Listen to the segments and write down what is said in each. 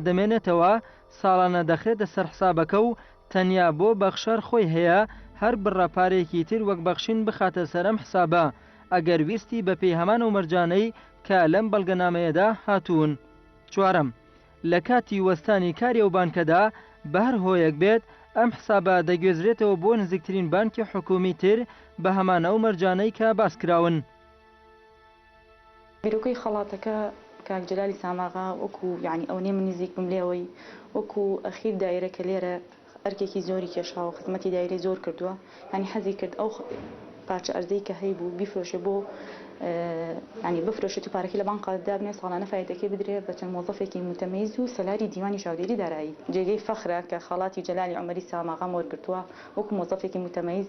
دەمێنێتەوە، ساڵانە دەخرێتە سەر حسابەکە و تەنیا بۆ بەخشەر خۆی هەیە هەر بڕە پارەیەکی تر وەک بەخشین بخاتە سەر ئەم حسابە، ئەگەر ویستی بە پێی هەمان ئەو مەرجانەی کە لەم بەڵگەنامەیەدا هاتوون. چوارەم، لە کاتی وەستانی کاری ئەو بانکەدا، بە هەر هۆیەک بێت، ئەم حسابە دەگوێزرێتەوە بۆ نزیکترین بانکی حکوومی تر بە هەمان ئەو مەرجانەی کە باس کراون. بیرۆکەی خەڵاتەکە کاک جەلالی ساماغا وەکو یەعنی ئەونەی من نزیک بم لێوەی وەکو ئەخیر دایرە کە لێرە ئەرکێکی زۆری کێشاوە خزمەتی دایرەی زۆر کردوە یەعنی حەزی کرد ئەو پارچە ئەرزەی کە هەیبوو بیفرۆشێ بۆ یەعنی بفرۆشێت و پارەکەی لە بانقا دابنێ ساڵانە فایدەکەی بدرێ بە چەند مۆزەفێکی موتەمەیز و سەلاری دیوانی چاودێری دارایی. جێگەی فەخرە کە خەڵاتی جەلالی عومەری ساماغام وەرگرتوە وەکو مۆزەفێکی موتەمەیز.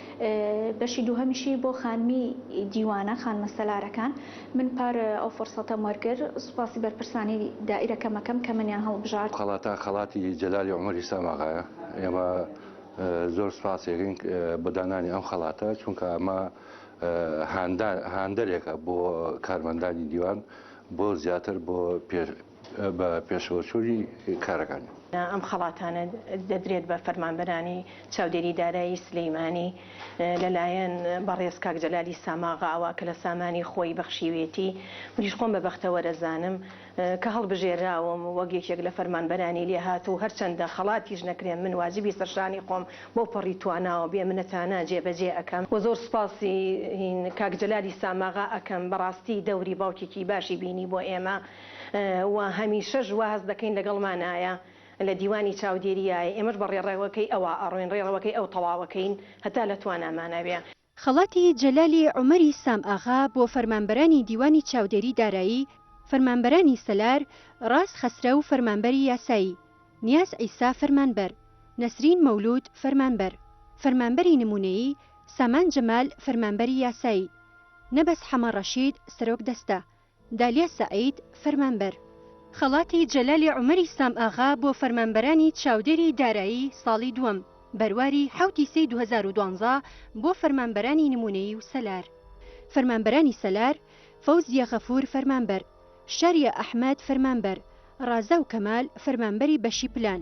بەشی دووهەمیشی بۆ خانمی دیوانە خانمە سەلارەکان من پار ئەو فڕسەتەم وەرگر سوپاسی بەرپرسانی دائیرەکەمەکەم کە منیان هەڵبژارد. خەڵاتە خەڵاتی جەلالی عومەر ئیسلام ئاغایە ئێمە زۆر سوپاسێکین بۆ دانانی ئەم خەڵاتە چونکە ئەمە هاندان هاندەرێکە بۆ کارمەندانی دیوان بۆ زیاتر بۆ پێ بە پێشەوەچوونی کارەکان. ئەم خەڵاتانە دەدرێت بە فەرمانبەرانی چاودێری دارایی سلیمانی لە لایەن بەڕێز کاک جەلالی ساماغاوە کە لە سامانی خۆی بەخشیوێتی منیش خۆم بە بەختەوەرەزانم کە هەڵبژێراوم وەک یەکێک لە فەرمانبەرانی لێهاتوو هەرچەندە خەڵاتیش نەکرێم من واجبی سەرشانی خۆم بەو پەڕی تواناوە بێ منەتانە جێ بەجێ ئەکەم و زۆر سوپاسی کاک جەلالی ساماغا ئەکەم بەڕاستی دەوری باوکێکی باشی بینی بۆ ئێمە. و هەمیشەش وا هەست دەکەین لەگەڵمان ئایە لە دیوانی چاودێری ئایە ئێمەش بە ڕێڕەوەکەی ئەوا ئەڕۆین ڕێڕەوەکەی ئەو تەواوەکەین هەتا لە توانامانە بێ. خەڵاتی جەلالی عومەری سام ئاغا بۆ فەرمانبەرانی دیوانی چاودێری دارایی، فەرمانبەرانی سەلار، ڕاز خەسرەو فەرمانبەری یاسایی، نیاز عیسا فەرمانبەر، نەسرین مەولود فەرمانبەر، فەرمانبەری نموونەیی، سامان جەمال فەرمانبەری یاسایی، نەبەز حەمە ڕەشید سەرۆک دەستە، دالیا سەعید، فەرمانبەر، خەڵاتی جەلالی عومەری سام ئاغا بۆ فەرمانبەرانی چاودێری دارایی ساڵی دووەم، بەرواری حەوت ی سێی دوو هەزار و دوازدە بۆ فەرمانبەرانی نموونەیی و سەلار. فەرمانبەرانی سەلار، فەوزیە غەفور فەرمانبەر، شاریە ئەحمەد فەرمانبەر، ڕازاو کەمال فەرمانبەری بەشی پلان.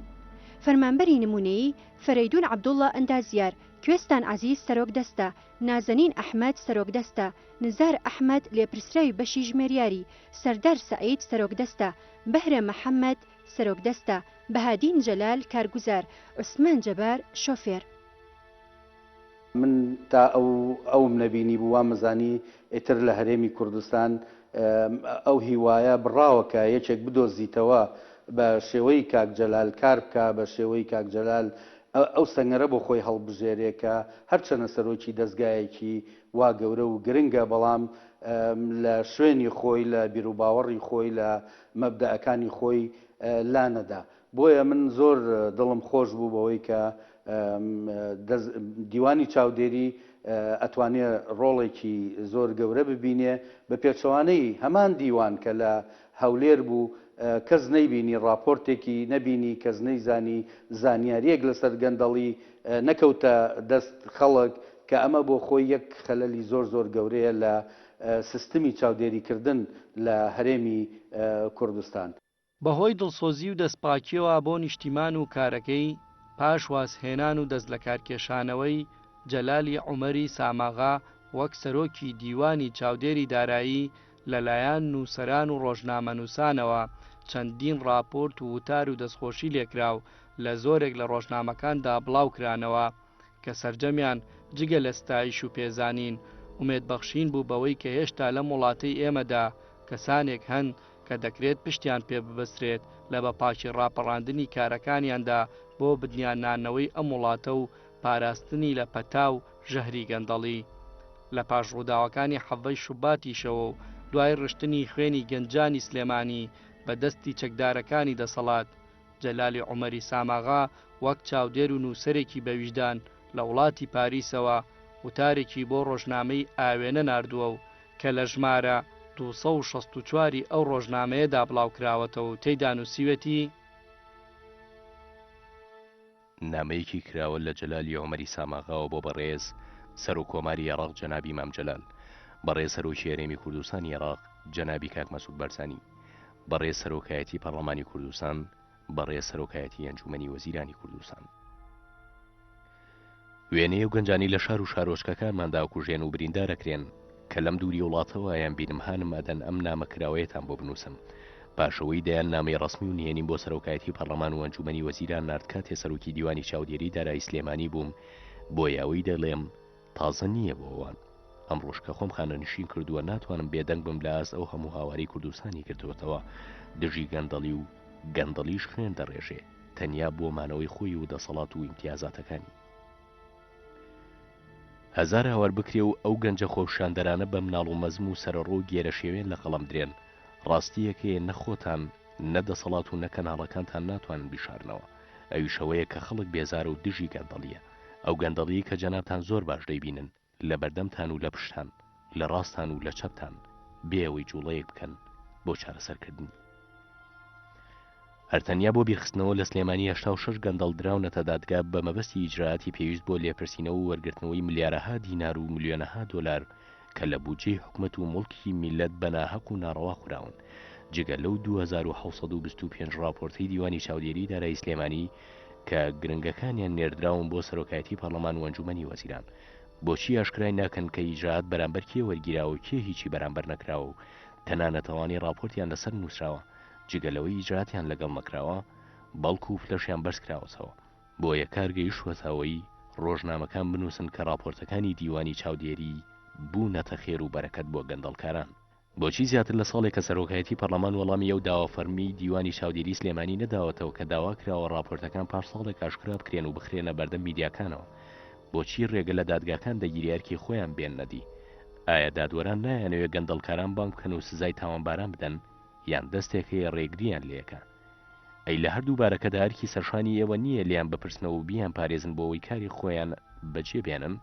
فەرمانبەری نموونەیی، فەرەیدون عەبدوڵا ئەندازیار، کوێستان عەزیز سەرۆک دەستە، نازەنین ئەحمەد، سەرۆکدەستە، نزار ئەحمەد، لێپرسراوی بەشی ژمێریاری، سەردار سەعید، سەرۆکدەستە، بەهرە محەمەد، سەرۆکدەستە، بەهادین جەلال، کارگوزار، عوسمان جەبار، شۆفێر. من تا ئەو ئەوم نەبینیبوو وامەزانی ئیتر لە هەرێمی کوردستان ئەو هیوایە بڕاوە کە یەکێک بدۆزیتەوە بە شێوەی کاک جەلال کار بکا بە شێوەی کاک جەلال ئەو سەنگەرە بۆ خۆی هەڵبژێرێ کە هەرچەنە سەرۆکی دەزگایەکی وا گەورە و گرنگە بەڵام لە شوێنی خۆی لە بیروباوەڕی خۆی لە مەبدەئەکانی خۆی لا نەدا بۆیە من زۆر دڵم خۆش بوو بەوەی کە دیوانی چاودێری ئەتوانێ ڕۆڵێکی زۆر گەورە ببینێ بە پێچەوانەی هەمان دیوان کە لە هەولێر بوو کەس نەیبینی ڕاپۆرتێکی نەبینی کەس نەیزانی زانیاریەک لەسەر گەندەڵی نەکەوتە دەست خەڵک کە ئەمە بۆ خۆی یەک خەلەلی زۆر زۆر گەورەیە لە سستمی چاودێری کردن لە هەرێمی کوردستان. بە هۆی دڵسۆزی و دەست پاکیەوە بۆ نیشتیمان و کارەکەی پاش واز هێنان و دەست لەکار کێشانەوەی جەلالی عومەری ساماغا وەک سەرۆکی دیوانی چاودێری دارایی لەلایەن نووسەران و ڕۆژنامەنووسانەوە چەندین ڕاپۆرت و وتار و دەستخۆشی لێکراو لە زۆرێک لە ڕۆژنامەکاندا بڵاو کرانەوە کە سەرجەمیان جگە لە ستایش و پێزانین ئومێد بەخشین بوو بەوەی کە هێشتا لەم وڵاتەی ئێمەدا کەسانێک هەن کە دەکرێت پشتیان پێ ببەسترێت لە بە پاکی ڕاپەڕاندنی کارەکانیاندا بۆ بنیاننانەوەی ئەم وڵاتە و پاراستنی لە پەتا و ژەهری گەندەڵی. لە پاش ڕووداوەکانی حەڤەی شوباتیشەوە و دوای ڕشتنی خوێنی گەنجانی سلێمانی بە دەستی چەکدارەکانی دەسەڵات، جەلالی عومەری ساماغا وەک چاودێر و نووسەرێکی بەویژدان لە وڵاتی پاریسەوە وتارێکی بۆ ڕۆژنامەی ئاوێنە ناردووە و کە لە ژمارە دوو سەد و شەست و چوار ی ئەو ڕۆژنامەیەدا بڵاوکراوەتەوە و تێیدا نووسیوێتی، نامەیەکی کراوە لە جەلالی عومەری ساماغاوە بۆ بەڕێز سەرۆک کۆماری عێڕاق جەنابی مام جەلال، بەڕێز سەرۆکی هەرێمی کوردستانی عێڕاق جەنابی کاک مەسعود بەرزانی، بەڕێز سەرۆکایەتی پەڕڵەمانی کوردستان، بەڕێز سەرۆکایەتی ئەنجومەنی وەزیرانی کوردستان. وێنەیە و گەنجانی لە شار و شارۆچکەکانماندا کوژێن و بریندار ئەکرێن کە لەم دووری وڵاتەوە ئەیانبینم هانم ئەدەن ئەم نامە کراوەیەتان بۆ بنووسم پاش ئەوەی دەیان نامەی ڕەسمی و نهێنیم بۆ سەرۆکایەتی پەڕلەمان و ئەنجومەنی وەزیران نارد کاتێ سەرۆکی دیوانی چاودێری دارایی سلێمانی بووم بۆیە ئەوەی دەڵێم تازە نییە بۆ ئەوان ئەمڕۆش کە خۆم خانەنشین کردووە ناتوانم بێدەنگ بم لە ئاست ئەو هەموو هاواری کوردستانی گرتووەتەوە دژی گەندەڵی و گەندەڵیش خوێن دەڕێژێ. تەنیا بۆ مانەوەی خۆی و دەسەڵات و ئیمتیازاتەکانی. هەزار هاوار بکرێ و ئەو گەنجە خۆپشاندەرانە بە مناڵ و مەزم و سەرەڕۆ و گێرەشێوێن لە قەڵەم درێن، ڕاستییەک هەیە نە خۆتان، نە دەسەڵات و نە کەناڵەکانتان ناتوانن بیشارنەوە، ئەویش ئەوەیە کە خەڵک بێزارە و دژی گەندەڵییە، ئەو گەندەڵییەی کە جەنابتان زۆر باش دەیبینن. لە بەردەمتان و لە پشتان، لە ڕاستان و لە چەپتان، بێ ئەوەی جووڵەیەک بکەن بۆ چارەسەرکردنی. هەر تەنیا بۆ بیرخستنەوە، لە سلێمانی هەشتا و شەش گەندەڵ دراونەتە دادگا بە مەبەستی ئیجرائاتی پێویست بۆ لێپرسینەوە و وەرگرتنەوەی ملیارەها دینار و ملیۆنەها دۆلار کە لە بودجەی حکومەت و موڵکی میللەت بە ناهەق و ناڕەوا خوراون جگە لەو دوو هەزار و حەوت سەد و بیست و پێنج ڕاپۆرتەی دیوانی چاودێریی دارایی سلێمانی کە گرنگەکانیان نێردراون بۆ سەرۆکایەتی پەرلەمان و ئەنجومەنی وەزیران، بۆچی ئاشکرای ناکەن کە ئیجرائات بەرامبەر کێ وەرگیراوە و کێ هیچی بەرامبەر نەکراوە و تەنانەت ئەوانەی راپۆرتیان لەسەر نوسراوە جگە لەوەی ئیجرائاتیان لەگەڵ نەکراوە بەڵکو پلەشیان بەرزکراوەتەوە؟ بۆیە کار گەیشتوەتە ئەوەی رۆژنامەکان بنوسن کە راپۆرتەکانی دیوانی چاودێری بونەتە خێر و بەرەکەت بۆ گەندەڵکاران. بۆچی زیاتر لە ساڵێکە سەرۆکایەتی پەرلەمان وەڵامی ئەو داوا فەرمیی دیوانی چاودێری سلێمانی نەداوەتەوە کە داوا کراوە ڕاپۆرتەکان پاش ساڵێک ئاشکرا بکرێن و بخرێنە بەردەم میدیاکانەوە؟ بۆچی ڕێگە لە دادگاکان دەگیرێ ئەرکی خۆیان بێننە دی؟ ئایا دادوەران نایانەوێ گەندەڵکاران بانگ بکەن و سزای تاوانباران بدەن؟ یان دەستێک هەیە ڕێگرییان لێکا؟ ئەی لە هەردوو بارەکەدا ئەرکی سەرشانی ئێوە نییە لێیان بپرسنەوە و بیانپارێزن بۆ ئەوەی کاری خۆیان بەجێ بێنن؟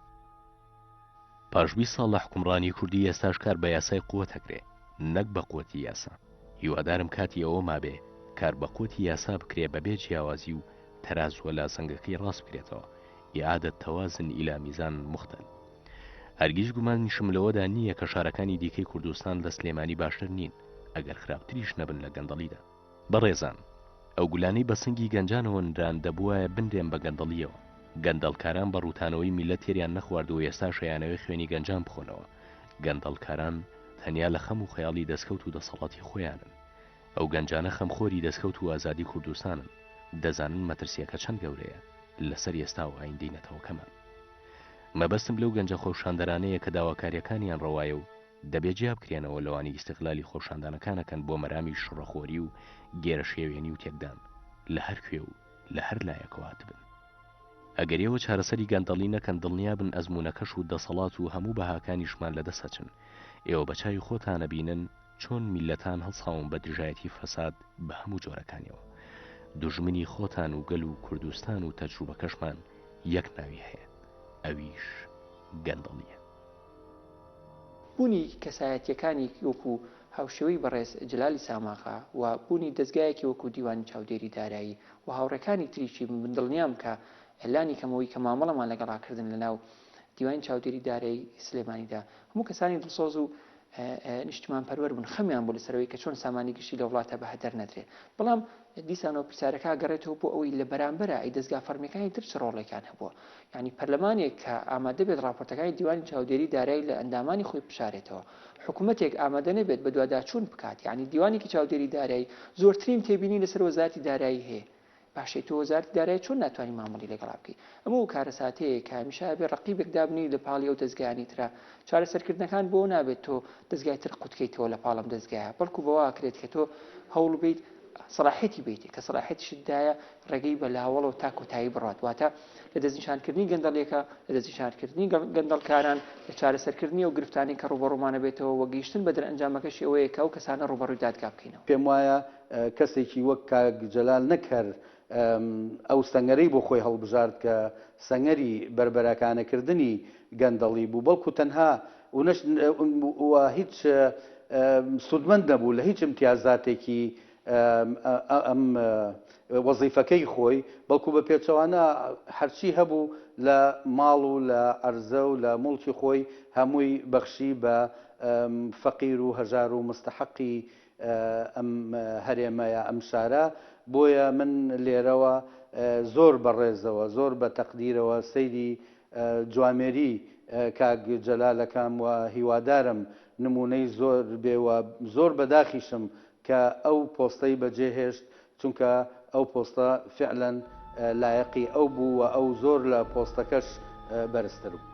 پاش بیست ساڵ لە حوکمڕانی کوردی ئێستاش کار بە یاسای قوت ئەکرێ نەک بە قوتی یاسا هیوادارم کاتی ئەوە مابێ کار بە قوتی یاسا بکرێ بە بێ جیاوازی و تەرازوە لازەنگەکەی ڕاست بکرێتەوە اعادە توازن الى میزان مختل هەرگیز گومانیشم لەوەدا نییە کە شارەکانی دیکەی کوردستان لە سلێمانی باشتر نین ئەگەر خراپتریش نەبن لە گەندەڵیدا. بەڕێزان ئەو گولانەی بە سنگی گەنجانەوە نران دەبوایە بنرێن بە گەندەڵیەوە گەندەڵکاران بە ڕوتانەوەی میلەت تێریان نەخوارد و ئێستاش ئەیانەوێ خوێنی گەنجان بخۆنەوە گەندەڵکاران تەنیا لە خەم و خەیاڵی دەسکەوت و دەسەڵاتی خۆیانن ئەو گەنجانە خەم خۆری دەسکەوت و ئازادی کوردستانن دەزانن مەترسیەکە چەند گەورەیە لەسەر ئێستا و ئایندەی نەتەوەکەمان مەبەستم لەو گەنجە خۆپشاندەرانەیە کە داواکاریەکانیان ڕەوایە و دەبێ جیابکرێنەوە لەوانەی ئیستغلالی خۆپشاندانەکان ئەکەن بۆ مەرامی شڕەخۆری و گێرەشێوێنی و تێکدان لە هەر کوێ و لە هەر لایەکەوە هاتبن. ئەگەر ئێوە چارەسەری گەندەڵی نەکەن دڵنیابن ئەزموونەکەش و دەسەڵات و هەموو بەهاکانیشمان لە دەست ئەچن. ئێوە بە چاوی خۆتان ئەبینن چۆن میللەتان هەڵساون بە دژایەتی فەساد بە هەموو جۆرەکانیەوە. دوژمنی خۆتان و گەل و کوردستان و تەجروبەکەشمان یەک ناوی هەیە ئەویش گەندەڵییە. بوونی کەسایەتییەکانی وەکو هاوشێوەی بەڕێز جەلالی ساماغا و بوونی دەزگایەکی وەکو دیوانی چاودێری دارایی و هاوڕێکانی تریشی من دڵنیام کە لانی کەمەوەی کە مامەڵەمان لەگەڵا کردن لەناو دیوانی چاودێری دارایی سلێمانیدا هەموو کەسانی دڵسۆز و نیشتمانپەروەر بوون خەمیان بوو لەسەرەوەی کە چۆن سامانی گشتی لەوڵاتە بەهەدەر نەدرێ بەڵام دیسانەوە پرسیارەکە ئەگەڕێتەوە بۆ ئەوەی لە بەرامبەرا ئەی دەزگا فەڕمیەکانی تر چ ڕۆڵێکیان هەبووە؟ یانی پەرلەمانێک کە ئامادە بێت ڕاپۆرتەکانی دیوانی چاودێری دارای لە ئەندامانی خۆی بشارێتەوە، حکومەتێک ئامادە نەبێت بەدواداچوون بکات، یانی دیوانێکی چاودێری دارای زۆرترین تێبینی لەسەر وەزارەتی دارایی هەیە، باشە تۆ وەزارەتی دارایی چۆن ناتوانی مامەڵی لەگەڵا بکەی؟ ئەمە ئەو کارەساتەیە کە هەمیشە ئەبێت ڕەقیبێک دابنێی لە پاڵی ئەو دەزگایانەی ترا چارەسەرکردنەکان بۆ ئەو نابێت تۆ دەزگای تر قوتکەیتەوە لە پاڵم دەزگایە بەڵکو بەواکرێت کە تۆ هەوڵ بیت سەراحەتی بیت کە سەراحەتیشتدایە ڕێگەی بە لاوەڵەوە تا کۆتایی بڕات واتە لە دەستنیشانکردنی گەندەڵیەکە لە دەستنیشانکردنی گەندەڵکاران لە چارەسەرکردنی و گرفتانی کە ڕوبەڕوومانە بێتەوە وەگەیشتن بە دەرەنجامەکەشی ئەوەیە کە ئەو کەسانە ڕوبەڕووی دادگا بکەینەوە. پێم وایە کەسێکی وەک کاک جەلال نەک هەر ئەو سەنگەرەی بۆ خۆی هەڵبژارد کە سەنگەری بەربەراکانەکردنی گەندەڵی بوو، بەڵکو تەنها ونەش و هیچ سوودمەند نەبوو لە هیچ ئیمتیازاتێکی ئەم وەزیفەکەی خۆی، بەڵکو بە پێچەوانە هەرچی هەبوو لە ماڵ و لە عەرزە و لە موڵکی خۆی هەمووی بەخشی بە فەقیر و هەژار و مستەحەقی ئەم هەرێمەیە ئەم شارە بۆیە من لێرەوە زۆر بە ڕێزەوە زۆر بە تەقدیرەوە سەیری جوامێری کاک جەلال ئەکەم و هیوادارم نمونەی زۆر بێ و زۆر بەداخیشم کە ئەو پۆستەی بەجێ هێشت چونکە ئەو پۆستە فیعلەن لایەقی ئەو بوو و ئەو زۆر لە پۆستەکەش بەرزتر بوو.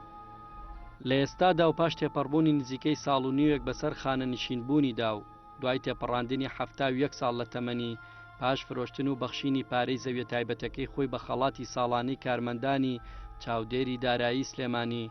لە ئێستادا و پاش تێپەڕبوونی نزیکەی ساڵ و نیوێک بەسەر خانەنشین بوونیدا و دوای تێپەڕاندنی حەفتا و یەک ساڵ لە تەمەنی پاش فرۆشتن و بەخشینی پارەی زەویە تایبەتەکەی خۆی بە خەڵاتی ساڵانەی کارمەندانی چاودێری دارایی سلێمانی